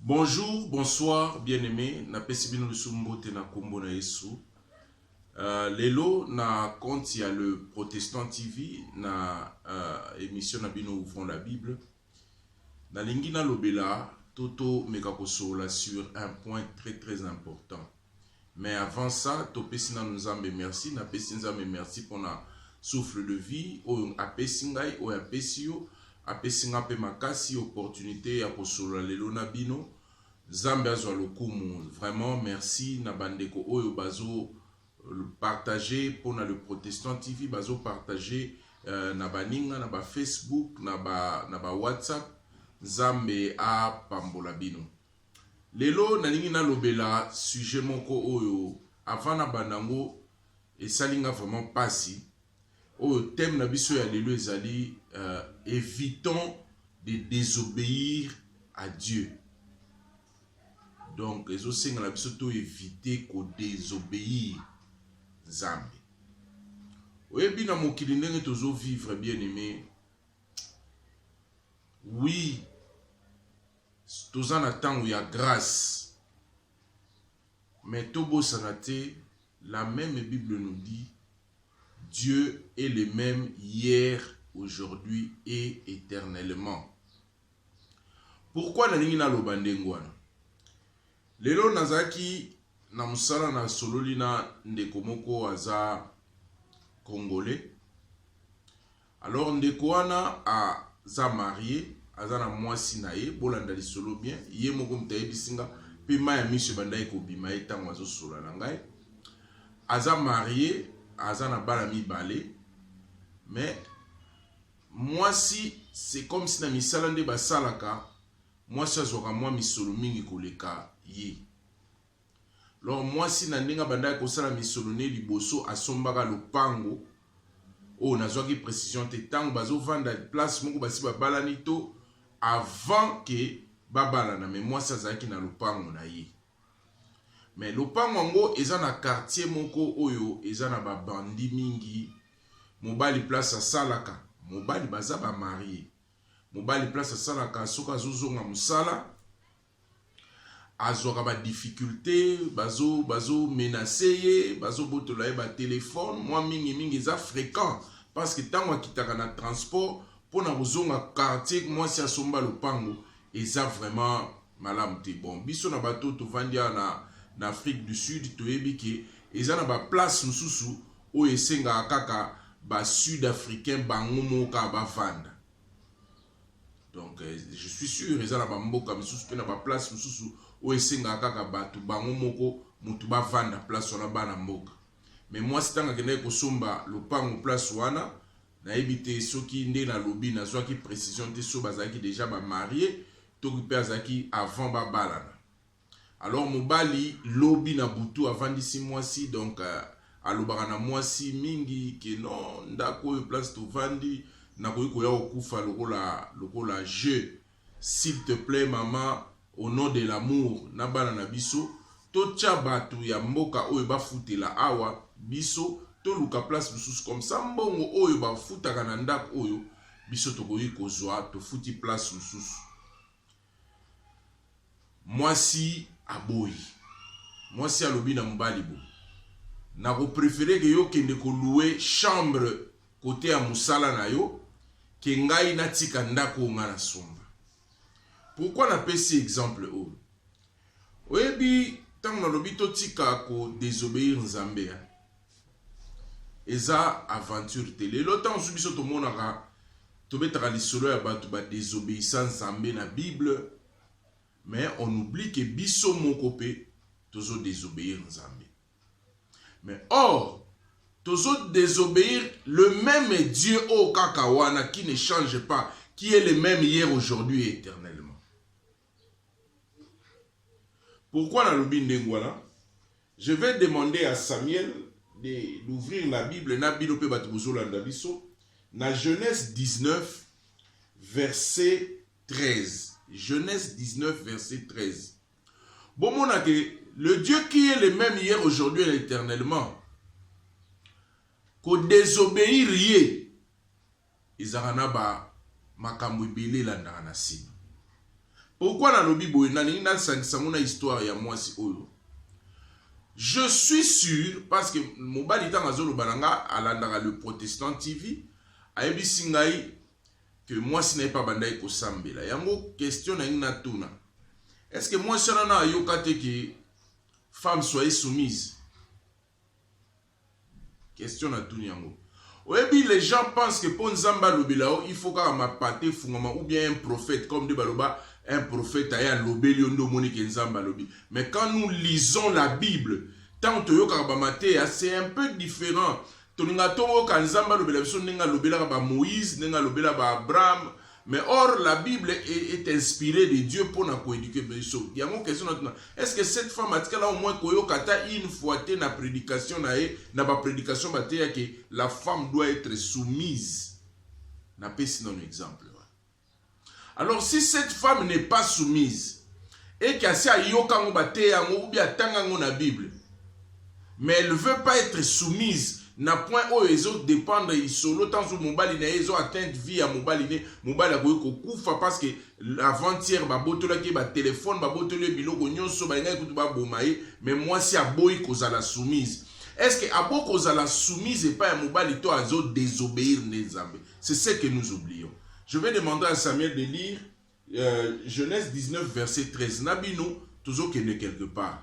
Bonjour, bonsoir, bien-aimé. Na pesi bino lisusu mbote na kombo na Yesu. Uh, lelo na compte ya le Protestant TV na uh, émission na bino ouvrons la Bible. Nalingi nalobela to to meka kosolola sur un point très très important. Mais avant ça, topesi nanu Nzambe merci, napesi Nzambe merci pona souffle de vie oyo apesi ngai, oyo apesi yo, apesi nga pe makasi opportunité ya kosolola lelo na bino. Nzambe azwa lokumu. Vraiment merci na bandeko oyo bazo Partage pona le protestant TV bazo partage euh, na baninga na ba Facebook na ba na ba WhatsApp. Nzambe a pambola bino. Lelo nalingi nalobela sujet moko oyo avant na banda ngo esali nga vraiment pasi. Oyo thème na biso ya lelo ezali euh, évitons de désobéir à Dieu. donc ezosenga na biso to evite ko desobeir nzambe oyebi na mokili ndenge tozo vivre bien aime oui toza na ntango ya grâce mais tobosana te la même bible nous dit dieu est le même hier aujourd'hui et éternellement Pourquoi nalingi naloba ndenge wana? Lelo nazalaki na mosala na sololi na ndeko moko aza congolais. Alors ndeko wana aza marie, aza na mwasi na ye, bolanda lisolo bien, ye moko moto ayebisi nga mpe mai ya miso ebandaki kobima ye ntango azosola na ngai. Aza marie, aza na bana mibale mais Mwasi c'est comme si na misala nde basalaka mwasi azwaka mwa misolo mingi koleka ye lor mwasi na ndenge abandaki kosala misolo ne liboso asombaka lopango oyo nazwaki precision te ntango bazovanda place moko basi babalani to avant ke babalana me mwasi azalaki na lopango na ye Mais lopango yango eza na quartier moko oyo eza na ba bandits mingi, mobali place asalaka, mobali baza ba maries, mobali place asalaka soki azo zonga musala azwaka ba difficulte, bazo bazo menace ye, bazo botola ye ba telephone, mwa mingi mingi eza frequent parce que tango akitaka na transport pona kozonga quartier mwasi asomba lopango eza vraiment Malamu te bon biso na bato to vandi awa na na Afrique du Sud toyebi ke eza na ba place mususu oyo esengaka kaka ba sud africain bango moko kaka ba vanda donc euh, je suis sûr eza na ba mboka misusu pe na ba place mususu oyo esengaka kaka bato bango moko mutu ba vanda place wana bana mboka mais mwasi ntango akendaki kosomba lopango place wana nayebi te soki nde nalobi nazwaki precision te so bazalaki deja ba marie Toki pe azalaki avant ba balana alors mobali lobi na butu avandisi mwasi donc alobaka na mwasi mingi ke non ndaku oyo place tovandi nakoki koya kokufa lokola lokola jeux s'il te plait mama au nom de l'amour na bana na biso totia batu ya mboka oyo bafutela awa biso toluka place mosusu comme ça mbongo oyo bafutaka na ndaku oyo Biso tokoki kozwa tofuti place mususu. Mwasi aboyi. Mwasi alobi na mobali bo nako prefere ke yo kende ko loue chambre kote ya musala na yo ke ngai natika ndako oyo ngai nasomba. Pourquoi napesi exemple oyo? Oyebi ntango nalobi totika ko desobeir Nzambe hein? Eza aventure te lelo tango su biso tomonaka tobetaka lisolo ya bato ba desobeissa nzambe na bible mais on oublie ke biso moko mpe tozo desobeir nzambe mais or tozo desobeir le meme dieu oyo kaka wana qui ne change pas qui est le meme hier aujourd'hui et éternellement Pourquoi nalobi ndenge wana? Je vais demander à Samuel de d'ouvrir la Bible na bino mpe bato bozolanda biso na Genèse 19 verset 13. Genèse 19 verset 13. Bomona que le Dieu qui est le même hier, aujourd'hui et éternellement, ko désobéir ye Ezalaka na ba makambo ebele elandaka na sima. Pourquoi nalobi boye, nalingi nasangisa yango na histoire ya muasi oyo. Je suis sur parce que mobali tango azoloba na nga alandaka le protestant TV, ayebisi ngai que muasi na ye pe abandaki kosambela. Yango question nalingi natuna. Est-ce que muasi wana na ayoka te que femme soyez soumise? Question na tuni yango oyebi les gens pensent que po nzambe alobela yo il faut kaka mapata efungwama ou bien un prophète comme nde baloba un prophète aye alobeli yo nde omoni ke nzambe alobi mais quand nous lisons la bible tango toyokaka ba mateya c'est un peu different tolingaka toyoka nzambe alobela biso ndenge alobelaka ba moïse ndenge alobela ba abraham Mais or la Bible est, est inspirée de Dieu pour na coéduquer biso. Yango question na tuna. Est-ce que cette femme atikala au moins koyoka ata une fois te na prédication na ye, na ba prédication ba teya que la femme doit être soumise. Na pesi na exemple. Alors si cette femme n'est pas soumise et qu'asi ayoka ngo ba teya ngo ou bien atanga ngo na Bible, mais elle veut pas etre soumise na point oyo ezo dependre isolo tanzu mobali naye ezo atteinte vie ya mobali ne mobali akoki kokufa parce que avant hier ba botolaki ye ba telephone ba botoli ye biloko nyoso balingaki kutu ba boma ye mais mwasi aboyi kozala soumise est ce que aboyi kozala soumise epai ya mobali to azo desobeir nde nzambe c'est ce que nous oublions je vais demander à Samuel de lire euh, Genèse 19 verset 13 na bino tozo kende quelque part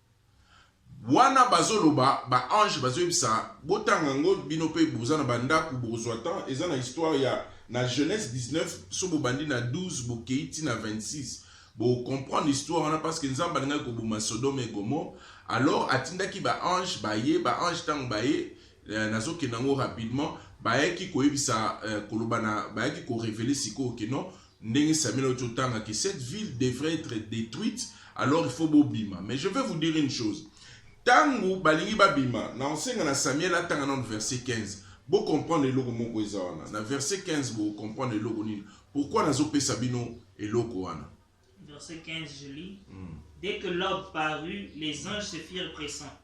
Wana bazoloba ba ange bazoyebisa botanga ngo bino pe boza na bandaku bokozwa temps eza na histoire ya na Genèse 19 so bobandi na 12 bokeyi ti na 26 bo comprendre histoire wana parce que Nzambe alingaki koboma Sodome et Gomorrhe alors atindaki ba ange baye ba ange tango baye eh, nazokenda ngo rapidement bayaki koyebisa eh, koloba na bayaki ko reveler sikoyo que non Ndenge Samuel auti otanga que cette ville devrait etre detruite alors il faut bobima mais je vais vous dire une chose tango balingi babima na osenga na Samuel atanga nano verset 15 bo comprendre eloko moko eza wana na verset 15 bo comprendre eloko nini pourquoi nazo pesa bino eloko wana Verset 15, je lis. Dès que l'aube parut, les anges se firent pressants.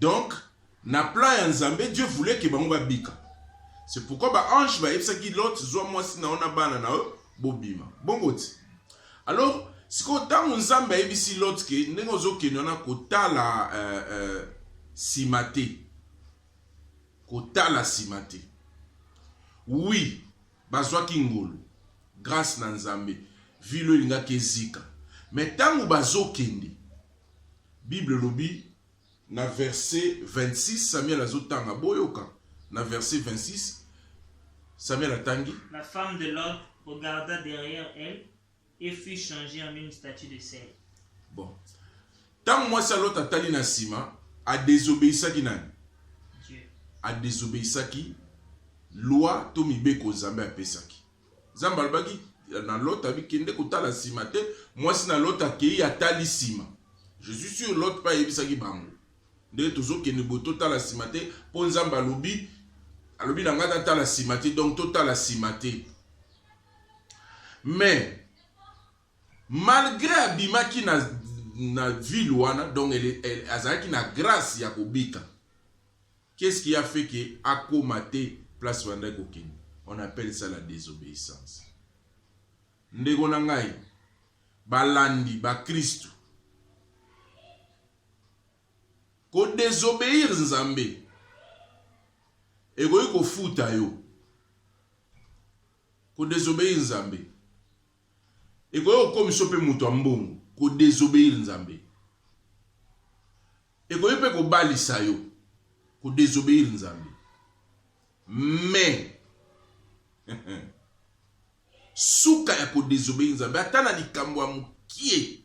Donc na plan ya Nzambe Dieu voulait que bango babika. C'est pourquoi ba anges bayebisaki Lot zwa mwasi na yo na bana na yo bobima. Bongo ti. Alors sikoyo ntango Nzambe ayebisi Lot ke ndenge ozokende wana kotala euh, euh, nsima te kotala nsima te oui bazwaki ngolu grâce na Nzambe vilo elingaki ezika me ntango bazokende Bible elobi na verse 26, Samuel azo tanga, boyoka na verse 26, Samuel atangi. La femme de l'autre regarda derrière elle et fut changee en une statue de sel. Bon. Tango mwasi ya Lot atali na sima, a desobeisaki nani? Dieu. A desobeisaki loi to mibeko Nzambe apesaki. Nzambe alobaki na Lot abi kende kotala nsima te. Mwasi na Lot akei atali nsima. Je suis sûr Lot mpe ayebisaki bango ndenge tozokende boye, totala nsima te mpo Nzambe alobi alobi na ngai natala nsima te, donc totala nsima te. Mais malgré abimaki na, na ville wana donc azalaki na grâce ya kobika Qu'est ce qui a fait que akoma te place abandaki kokende? On appelle ça la desobeissance. Ndeko na ngai, balandi ba Kristu, ko desobeir Nzambe ekoki kofuta yo. Ko desobeir Nzambe Ekoki kokomisa yo mpe moto ya mbongo, ko desobeir Nzambe. Ekoki mpe kobalisa yo, ko desobeir Nzambe. Mais suka ya ko desobeir Nzambe, ata na likambo ya mokie,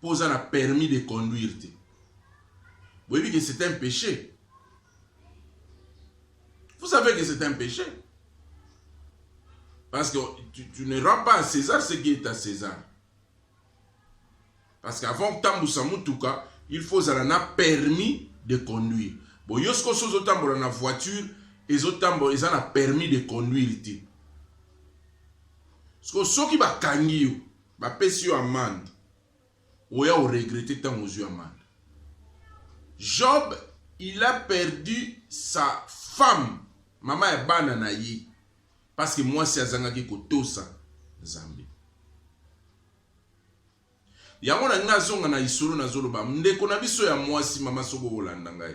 po oza na permis de conduire te boyebi que c'est un peche vous savez que c'est un peche parce que tu, tu ne rends pas à César ce qui est à César parce qu'avant kotambusa motuka il faut ozala na permis de conduire bon yo sikoyo so ozotambola na voiture ezotambola eza na permis de conduire te sikoyo soki bakangi yo Bapesi yo amande, oya o regretter ntango ozwi amande. Job il a perdu sa femme, mama ya bana na ye, parce que mwasi azangaki kotosa Nzambe. Yango na ngai azonga na isolo nazoloba ndeko na biso ya mwasi, mama soko olanda ngai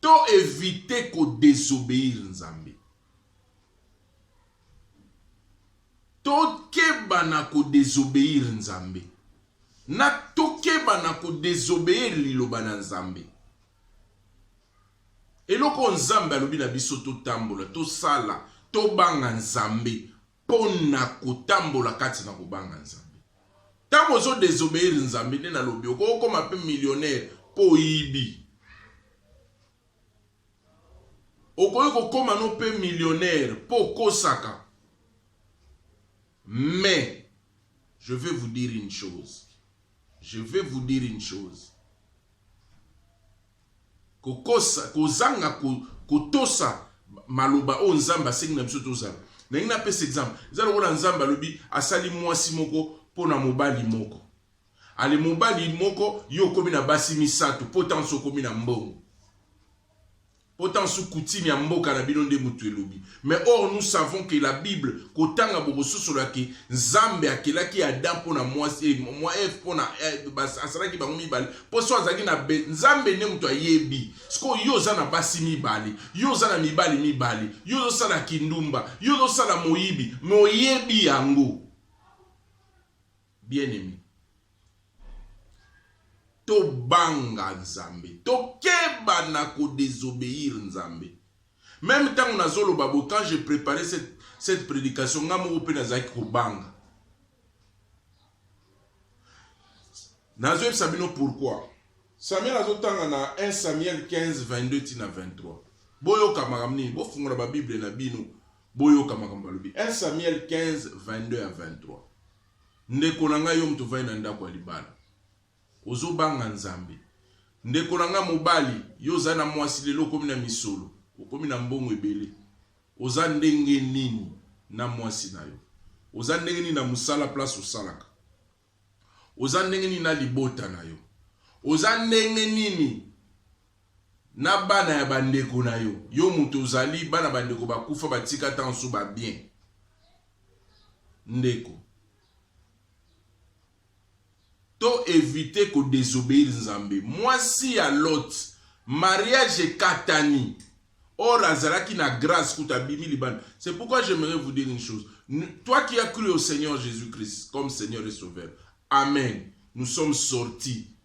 To eviter ko desobeir Nzambe. Tokeba na ko desobeir Nzambe. Na tokeba na ko desobeir liloba na Nzambe. Eloko oyo Nzambe alobi na biso totambola, tosala, tobanga Nzambe. Mpo na kotambola kati na kobanga Nzambe. Ntango ozo desobeir Nzambe nde nalobi okokoma mpe millionnaire mpo oyibi. Okoki kokoma no mpe millionnaire mpo okosaka. Mais je vais vous dire une chose. Je vais vous dire une chose. Kokosa, kozanga kotosa maloba oyo Nzambe asengi na biso tozala. Nalingi napesa exemple. Eza lokola Nzambe alobi asali mwasi moko mpo na mobali moko. Ale mobali moko yo okomi na basi misato mpo ntango okomi na mbongo. Mpo ntango coutume ya mboka na bino nde moto elobi. Mais or nous savons que la Bible kotanga bokososolo ke Nzambe akelaki Adam mpo na mwasi eh, mwa Eve mpo na eh, asalaki bango mibale mpo so azalaki na be Nzambe nde moto ayebi sikoyo yo oza na basi mibale yo oza na mibali mibale yo ozosala kindumba yo ozosala moyibi me oyebi yango Bien aime to banga nzambe to keba na ko desobeir nzambe meme tango nazo loba bo quand je prepare cette, cette predication nga moko pe nazalaki ko banga nazo yebisa bino pourquoi samuel azo tanga na 1 samuel 15 22 tina 23 boyoka makambo nini bofungola babible na bino boyoka makambo balobi 1 samuel 15 22 à 23 Ndeko na nga yo moto ovandi na ndako ya libala ozo banga nzambe ndeko na nga mobali yo oza na mwasi lelo okomi na misolo okomi na mbongo ebele oza ndenge nini na mwasi na yo oza ndenge nini na mosala place osalaka oza ndenge nini na libota na yo oza ndenge nini na bana ya ba ndeko na yo yo mutu ozali bana ba ndeko ba kufa ba tika ata nsu ba bien ndeko to evite ko desobeir nzambe mwasi ya lot mariage ekatani or azalaki na grace kuta bimi libanda c'est pourquoi j'aimerais vous dire une chose toi qui as cru au seigneur jésus christ comme seigneur et sauveur amen nous sommes sortis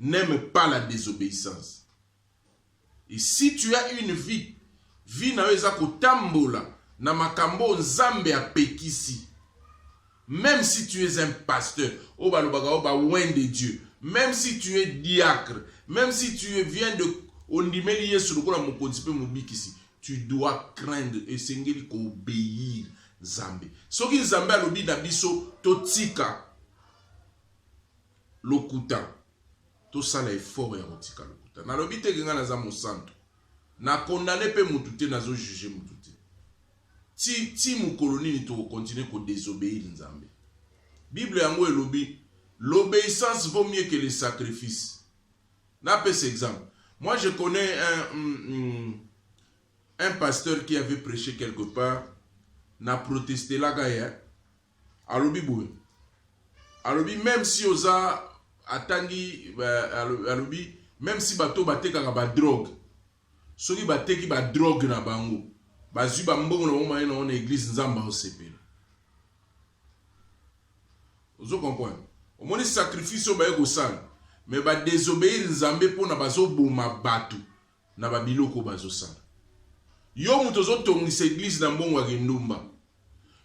n'aime pas la desobeissance et si tu as une vie vie na yo eza kotambola na makambo oyo nzambe apekisi même si tu es un pasteur oyo balobaka oyo bawen de dieu même si tu es diacre même si tu es viens de ondimeli yesu lokola mokonzi mpe mobikisi tu dois craindre esengeli koobeir nzambe soki nzambe alobi na biso totika Lokuta. Tosala effort ya kotika lokuta. Nalobi te que ngai naza mosantu. Na condamner mpe mutu te, nazo juger mutu te. Ti, ti mokolo nini toko continuer ko desobeir Nzambe? Bible yango elobi l'obeissance vaut mieux que le sacrifice. Napesa exemple. Moi je connais un, un, un pasteur qui avait prêché quelque part na protestelaka ye Alobi boye, alobi meme si oza atangi, alobi meme si bato batekaka ba drogue, soki bateki ba drogue na bango, bazwi ba mbongo na bango baye na yango na eglise, Nzambe aosepela. Ozo comprendre? Omoni sacrifice oyo baye kosala, mais ba desobeir Nzambe pona bazoboma bato, na ba biloko bazo sala yo mutu ozo tongisa eglise na mbongo ya kindumba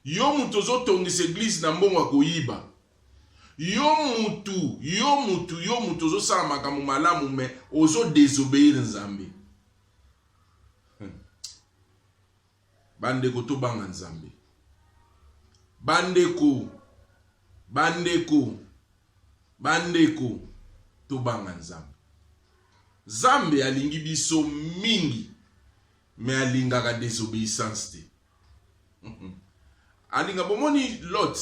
yo mutu ozo tongisa eglise na mbongo ya koyiba yo mutu yo mutu yo mutu ozo sala makambo malamu mais ozo desobeir nzambe Bandeko tobanga Nzambe. Bandeko, bandeko, bandeko, tobanga Nzambe. Nzambe alingi biso mingi, me alingaka desobeyissance te. Alinga bomoni Lot.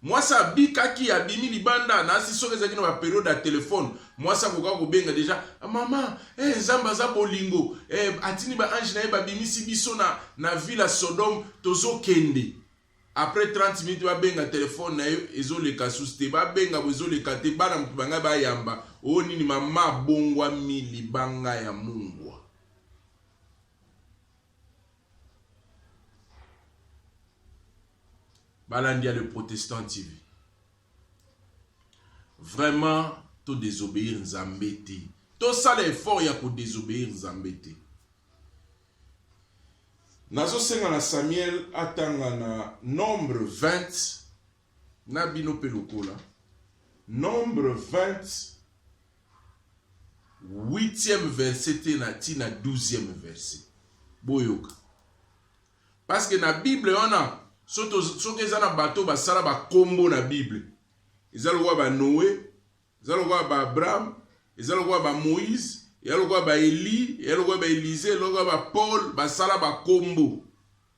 Mwasi abikaki, abimi libanda, nasi soki ezalaki na ba periode ya telephone, mwasi akokaki kobenga dejà, Mama, eh Nzambe aza bolingo, eh atindi ba anges na ye babimisi biso na, na ville ya Sodome, tozo kende. Après 30 minutes babenga telephone na ye ezo leka susu te, babenga boye ezo leka te, bana mutu bangai bayamba, oh nini mama abongwami libanga ya mungwa. balandi ya le protestant tv vraiment to désobéir nzambe te tosala effort ya kodesobéir nzambe te nazosenga na samuel atanga na nombre 20 Na bino pe lokola. Nombre 20 huitième verset tee na ti na douzième verset. Boyoka. Parce que na Bible wana soki eza na bato basala bakombo na Bible eza lokola ba Noe, eza lokola ba Abraham, eza lokola ba Moïse, eza lokola ba Elie, eza lokola ba Elise, eza lokola ba Paul basala bakombo.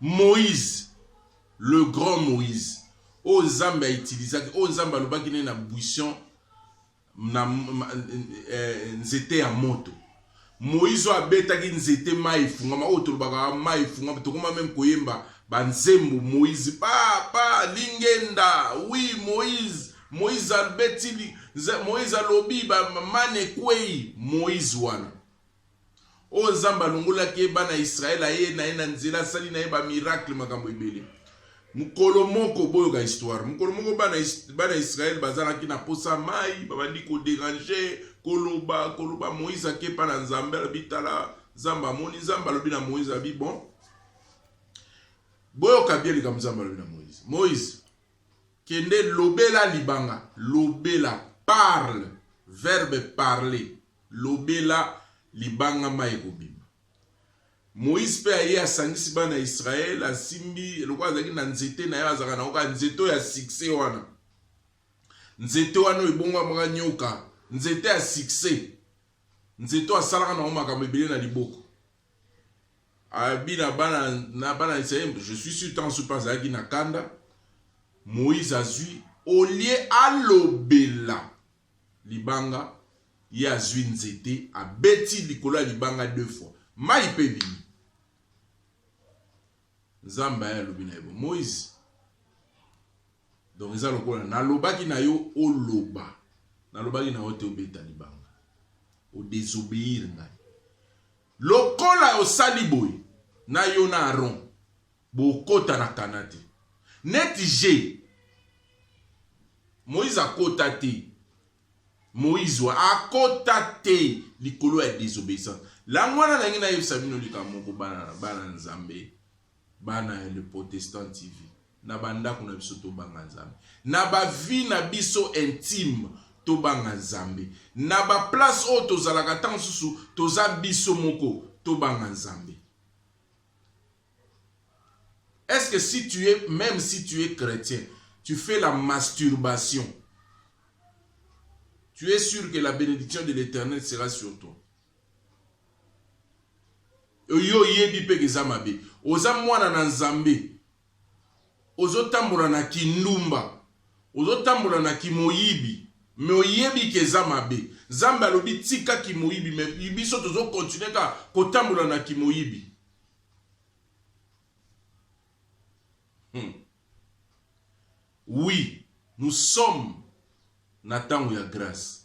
Moïse, le grand Moïse, oyo Nzambe aitilisaki, oyo Nzambe alobaki ne na buisson na eh, nzete ya moto. Moïse oyo abetaki nzete mai efungama, oyo tolobaka mai efungama, tokoma meme koyemba banzembo Moïse papa lingenda oui Moïse Moïse albeti Moïse alobi ba mane kwei Moïse wana Oyo Nzambe alongolaki ye bana Israël aye na ye na nzela asali na ye ba miracle makambo ebele. Mokolo moko boyoka histoire. Mokolo moko bana bana Israël bazalaki na posa mai, babandi ko déranger, koloba, koloba Moïse akepa na Nzambe alobi tala Nzambe amoni Nzambe alobi na Moïse abi bon. Boyoka bien likambo Nzambe alobi na Moïse. Moïse kende lobela libanga, lobela parle verbe parler Lobela libanga mayi ekobima. Moïse pe aye asangisi bana ya Israël asimbi lokola azalaki na nzete naye azalaka na oka nzete oyo ya succès wana. Nzete wana ebongo amaka nyoka, nzete ya succès. Nzete oyo asalaka na makambo ebele na liboko. Abi na bana na bana Israël, je suis sûr tant sopa azalaki na kanda. Moïse azui olie alobela libanga ye azwi nzete abeti likolo ya libanga deux fois mai mpe ebimi nzambe aye alobi na ye bo moise donc eza lokola nalobaki na yo oloba nalobaki na yo te obeta libanga odesobeyir ngai lokola osali boye na yo na aron Bokota na Canaan te. Neti je. Moïse akota te. Moïse wa akota te likolo ya desobeyissance. Lango wana nangi nayebisa bino likambo moko bana bana Nzambe, bana ya le Protestant TV. Na bandako na biso tobanga Nzambe. Na ba vie na biso intime tobanga Nzambe. Na ba place oyo tozalaka ntango mosusu toza biso moko tobanga Nzambe. Est ce que si tu es meme si tu es chretien tu fais la masturbation tu es sûr que la bénédiction de l'éternel sera sur toi yo oyebi mpe eza mabe oza mwana na nzambe Ozo tambola na ki ndumba ozo tambola na ki moyibi mais oyebi ke eza mabe zambe alobi tika ki moyibi mais biso tozo continue kaka ko tambola na ki moyibi hum oui nous sommes na tango ya grace.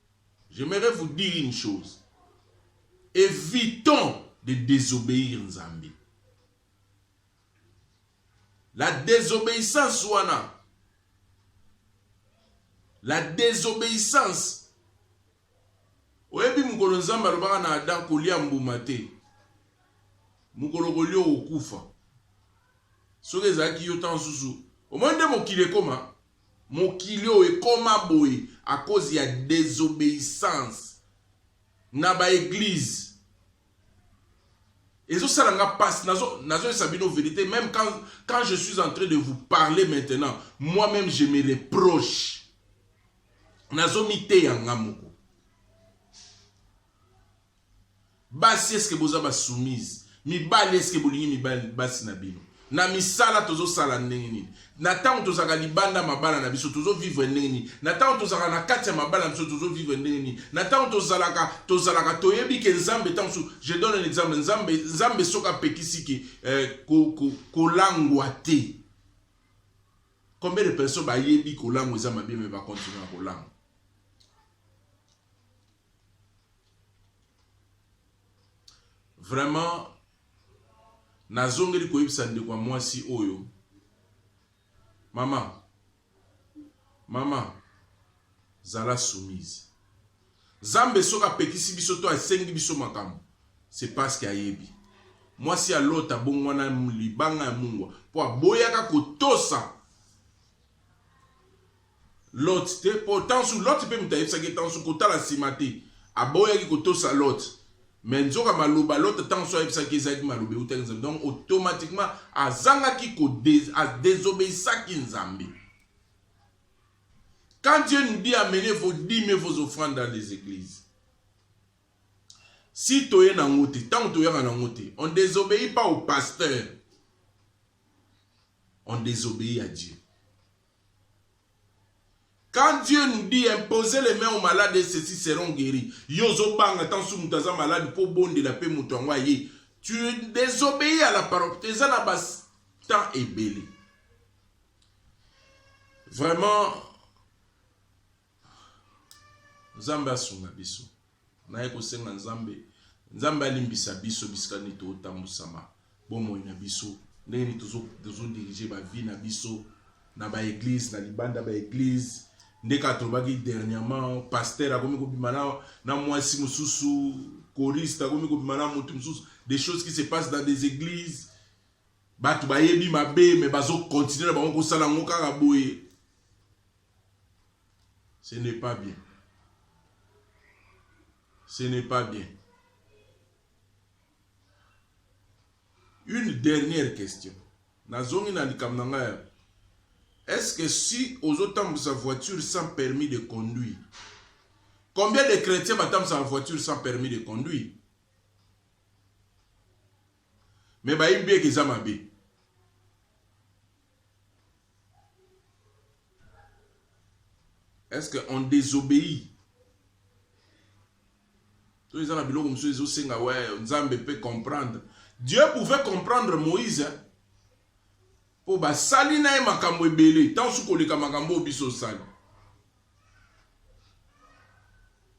J'aimerais vous dire une chose evitons de desobeir Nzambe la desobeissance wana la desobeissance oyebi mokolo Nzambe alobaka na Adam kolia mbuma te mokolo kolia okokufa soki ezalaki yo ntango mosusu omoni nde mokili ekoma Mokili oyo ekoma boye à cause ya desobeissance na ba eglises. Ezo sala nga pasi nazo nazo yebisa bino verite meme quand quand je suis en train de vous parler maintenant moi meme je me reproche nazo miteya nga moko. Basi est ce que boza ba soumise? Mibali est ce que bolingi mibali basi na bino? Na misala tozo sala ndenge nini? Na tango tozaka libanda mabala na biso tozo vivre ndenge nini? Na tango tozaka na kati ya mabala na biso tozo vivre ndenge nini? Na tango tozalaka tozalaka toyebi ke Nzambe tango su je donne un exemple Nzambe Nzambe soka pekisi ke eh, ko, ko, kolangwa te. Combien de personnes bayebi kolangwa eza mabe mais ba continuer kolangwa? Vraiment nazongeli koyebisa ndeko ya mwasi oyo mama mama zala soumise zambe soki apekisi biso to asengi biso makambo se parceke ayebi mwasi ya lota abongwana libanga ya mungwa mpo aboyaka kotosa Lot te mpo Tansu, Lot mpe moto ayebisaki ye Tansu kotala nsima te. Aboyaki kotosa Lot. Mais nzoka maloba Lot Tansu ayebisaki ezalaki maloba eutaki Nzambe. Donc automatiquement azangaki ko désobéissaki Nzambe. Quand Dieu nous dit amenez vos dîmes et vos offrandes dans les églises, si tu es dans te, tant que tu es dans te, on ne désobéit pas au pasteur, on désobéit à Dieu. Quand Dieu nous dit imposer les mains aux malades et ceci seront gueris yo ozo banga tant soki mutu aza malade po obondela pe mutu yango aye tu desobeyis à la parole eza na ba temps ebele vraiment Nzambe asunga biso. Naye kosenga Nzambe, Nzambe alimbisa biso bisika nini totambusama bomoi na biso, ndenge nini tozo tozo dirige ba vie na biso na ba eglise na libanda ba eglise nde kaka tolobaki dernièrement pasteur akomi kobima na, na mwasi mosusu choriste akomi kobima na moto mosusu des choses qui se passent dans des églises bato bayebi mabe me bazokontinue na bango kosala yango kaka boye Ce n'est pas bien. Ce n'est pas bien. Une dernière question. Nazongi na likambo na ngai. Est-ce que si ozotambusa voiture sans permis de conduire, combien de chrétiens batambusa voiture sans permis de conduire? Mais bayebi bien que eza mabe. Est-ce que on désobéit to eza na biloko mosusu ezosenga we nzambe mpe comprendre dieu pouvait comprendre moïse mpo basali na ye makambo ebele ntango su koleka makambo oyo biso osali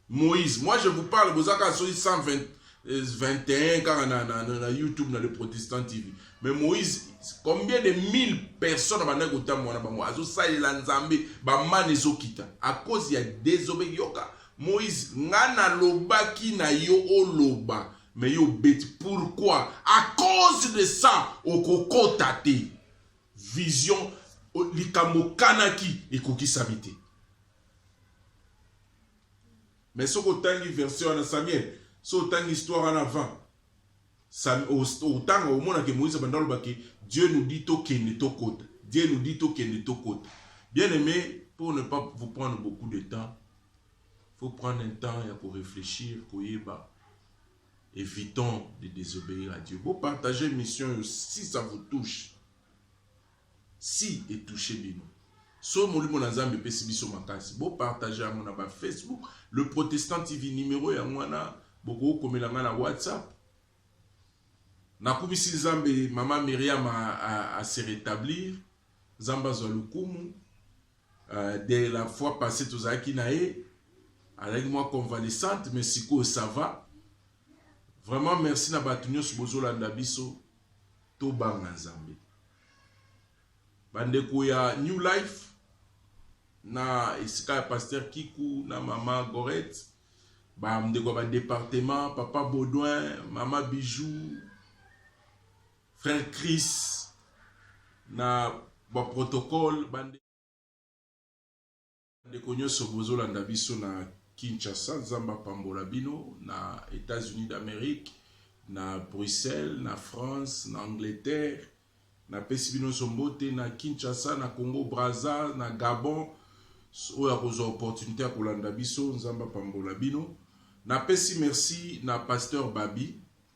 Moïse, moi je vous parle, boza kaka soki 120 21 kaka na, na, na, na YouTube na le Protestant TV. Mais Moïse, combien de mille personnes bandaki kotambola na bango azosalela Nzambe bamani ezokita à cause ya désobé yoka Moïse nga nalobaki na yo oloba mais yo obeti pourquoi à cause de ça okokota te Vision likambo okanaki ekokisami te. Mais soki otangi version wana Samuel, soki otangi histoire wana avant, otanga omona ke Moïse abanda aloba ke Dieu nous dit tokende tokota, Dieu nous dit tokende tokota. Bien aimé, pour ne pas vous prendre beaucoup de temps, faut prendre un temps ya ko réfléchir, koyeba Evitons de desobeir à Dieu. Bo partager émission yo si ça vous touche. Si et touchez bino. So molimo na Nzambe epesi biso makasi. Bo partager yango na ba Facebook, le protestant TV numéro ya mwana bokoki komela nga na WhatsApp. Nakumisi Nzambe mama Myriam a, a, a se rétablir. Nzambe azwa lokumu. de la fois passe tozalaki na ye azalaki mwa convalescente mais sikoyo ça va vraiment merci na bato nyonso bozolanda biso tobanga nzambe bandeko ya new life na esika ya paster kiku na mama goret bandeko ya badepartement papa baudouin mama bijou Frère Chris na ba protocole bande ndeko nyonso bozolanda biso na Kinshasa, Nzambe apambola bino na Etats-Unis d'Amerique, na Bruxelles, na France, na Angleterre. Napesi bino nyonso mbote na Kinshasa, na Congo Brazza, na Gabon. Oyo akozwa opportunité ya kolanda biso, Nzambe apambola bino. Napesi merci na Pasteur Babi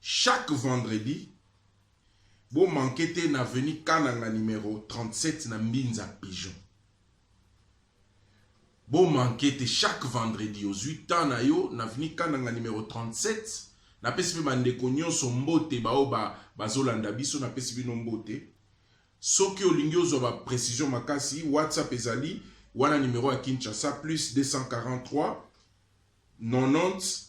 Chaque vendredi, bo manquer te na avenue Kananga numero 37 na Mbinza Pigeon. Bo manquer te chaque vendredi ozui temps na yo na avenue Kananga numero 37. Napesi mpe bandeko nyonso mbote baoyo ba, bazolanda biso, napesi bino mbote. Soki olingi ozwa ba precision makasi, WhatsApp ezali wana numero ya Kinshasa plus 243 90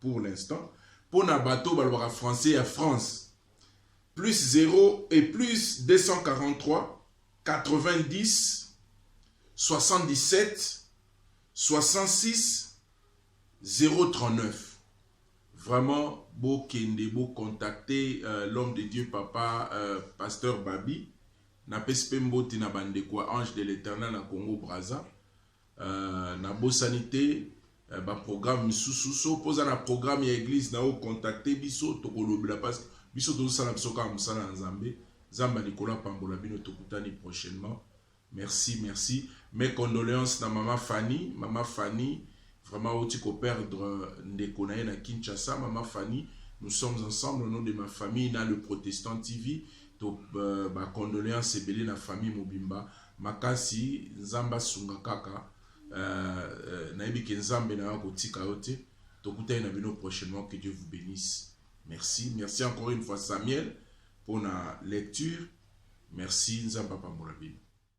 pour l'instant mpo na bato balobaka français ya france plus 0 et plus 243 90 77 66 039 vraiment bokende bocontacte euh, l'homme de dieu papa euh, pasteur babi napesi mpe mbote na bandeko ya ange de l'éternel na congo braza Uh, nabosani te uh, ba programme misusu so poza na programme ya eglise na yo contacte biso tokolobela parce que biso tozosala biso kaka mosala ya nzambe nzambe likolo apambola bino tokutani prochainement merci merci mes condoléances na mama fanny mama fanny vraiment auti koperdre euh, ndeko na ye na kinshasa mama fanny nous sommes ensemble au nom de ma famille na le protestant tv to uh, euh, bacondoléance ebele na famille mobimba makasi nzambe asunga kaka euh, euh, nayebi ke nzambe na yo akotika yo te tokutani na bino prochainement que dieu vous bénisse merci merci encore une fois samuel mpo na lecture merci nzambe apambola bino